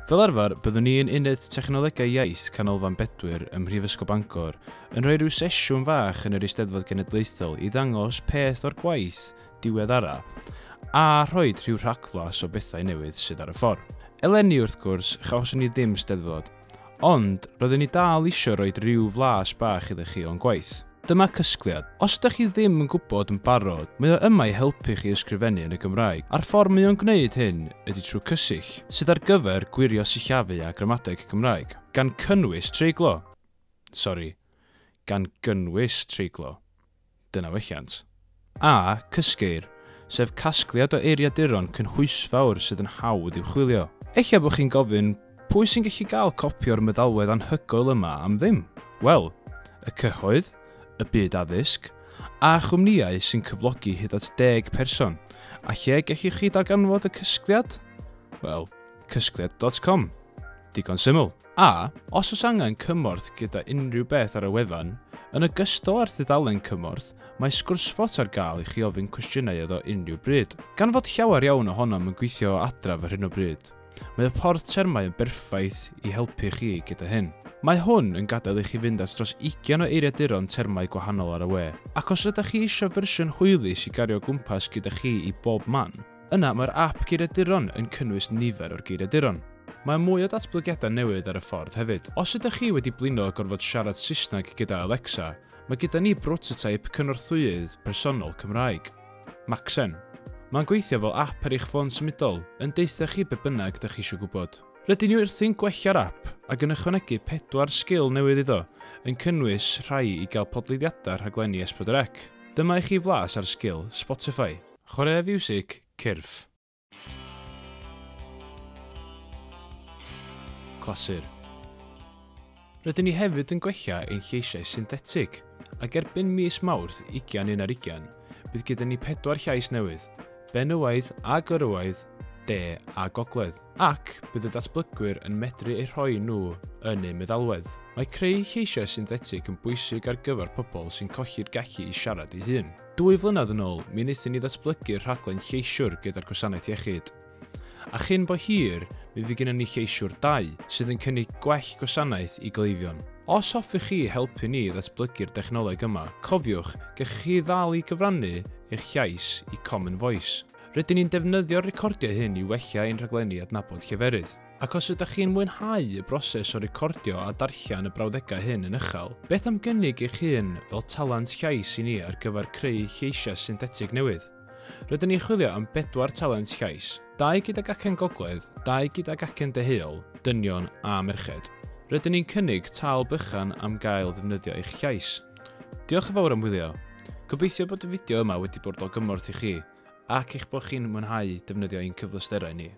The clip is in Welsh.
Fel arfer, byddwn ni yn Uned Technolegau Iaith Canolfan Bedwyr ym Mhrifysgol Bangor yn rhoi rhyw sesiwn fach yn yr Eisteddfod Genedlaethol i ddangos peth o'r gwaith diweddara a rhoi rhyw rhagflas o bethau newydd sydd ar y ffordd. Eleni, wrth gwrs, chawson ni ddim Steddfod, Ond, roeddwn i dal isio rhoi rhyw flas bach iddo chi o'n gwaith. Dyma cysgliad. Os ydych chi ddim yn gwybod yn barod, mae o yma i helpu chi ysgrifennu yn y Gymraeg, a'r ffordd mae o'n gwneud hyn ydy trwy cysill, sydd ar gyfer gwirio sillafu a gramadeg Cymraeg, gan cynnwys treiglo. Sori, gan gynnwys treiglo. Dyna welliant. A, cysgeir, sef casgliad o eiriaduron cynhwysfawr sydd yn hawdd i'w chwilio. Eich bod chi'n gofyn, 'Pwy sy'n gallu cael copi o'r meddalwedd anhygoel yma am ddim? Wel, y cyhoedd, y byd addysg, a chwmnïau sy'n cyflogi hyd at deg person. A lle gellwch chi ddarganfod y cysgliad? Wel, cysgliad dot com. Digon syml. A, os oes angen cymorth gyda unrhyw beth ar y wefan, yn ogystal â'r dudalen cymorth, mae sgwrsfot ar gael i chi ofyn cwestiynau iddo unrhyw bryd. Gan fod llawer iawn ohonom yn gweithio o adref ar hyn o bryd, mae y porth termau yn berffaith i helpu chi gyda hyn. Mae hwn yn gadael i chi fynd at dros 20 o eiriaduron termau gwahanol ar y we, ac os ydych chi eisiau fersiwn hwylus i gario o gwmpas gyda chi i bob man, Yna mae'r ap geiriaduron yn cynnwys nifer o'r geiriaduron. Mae mwy o datblygiadau newydd ar y ffordd hefyd. Os ydych chi wedi blino a gorfod siarad Saesneg gyda Alexa, mae gyda ni brototeip cynorthwyydd personol Cymraeg. Macsen. Mae'n gweithio fel ap ar eich ffôn symudol, yn deutha chi be bynnag dych chi eisiau gwybod. Rydyn ni wrthi'n gwella'r ap ac yn ychwanegu pedwar sgil newydd iddo, yn cynnwys rhai i gael podleiddiadau rhaglenni S4C. Dyma i chi flas ar sgil Spotify. Chwaraea fiwsig cyrff. Clasur. Rydyn ni hefyd yn gwella ein lleisiau synthetig, ac erbyn mis Mawrth 21 ar 20, bydd gyda ni pedwar llais newydd, benywaidd a gwrywaidd, de a gogledd, ac bydd y datblygwyr yn medru eu rhoi nhw yn eu meddalwedd. Mae creu lleisiau synthetig yn bwysig ar gyfer pobl sy'n colli'r gallu i siarad ei hun. Dwy flynedd yn ôl, mi wnaethon ni ddatblygu'r rhaglen Lleisiwr gyda'r Gwasanaeth Iechyd. A chyn bo hir, mi fydd gennym ni Lleisiwr 2, sydd yn cynnig gwell gwasanaeth i gleifion. Os hoffech chi helpu ni i ddatblygu'r dechnoleg yma, cofiwch, gellwch chi ddal i gyfrannu eich llais i Common Voice. Rydyn ni'n defnyddio'r recordiau hyn i wella ein rhaglenni adnabod lleferydd. Ac os ydych chi'n mwynhau y broses o recordio a darllen y brawddegau hyn yn uchel, beth am gynnig eich hun fel talent llais i ni ar gyfer creu lleisiau synthetig newydd? Rydyn ni'n chwilio am bedwar talent llais, dau gydag acen gogledd, dau gydag acen deheuol, dynion a merched. Rydyn ni'n cynnig tâl bychan am gael defnyddio eich llais. Diolch yn fawr am wylio. Gobeithio bod y fideo yma wedi bod o gymorth i chi ac eich bod chi'n mwynhau defnyddio ein cyfleusterau ni.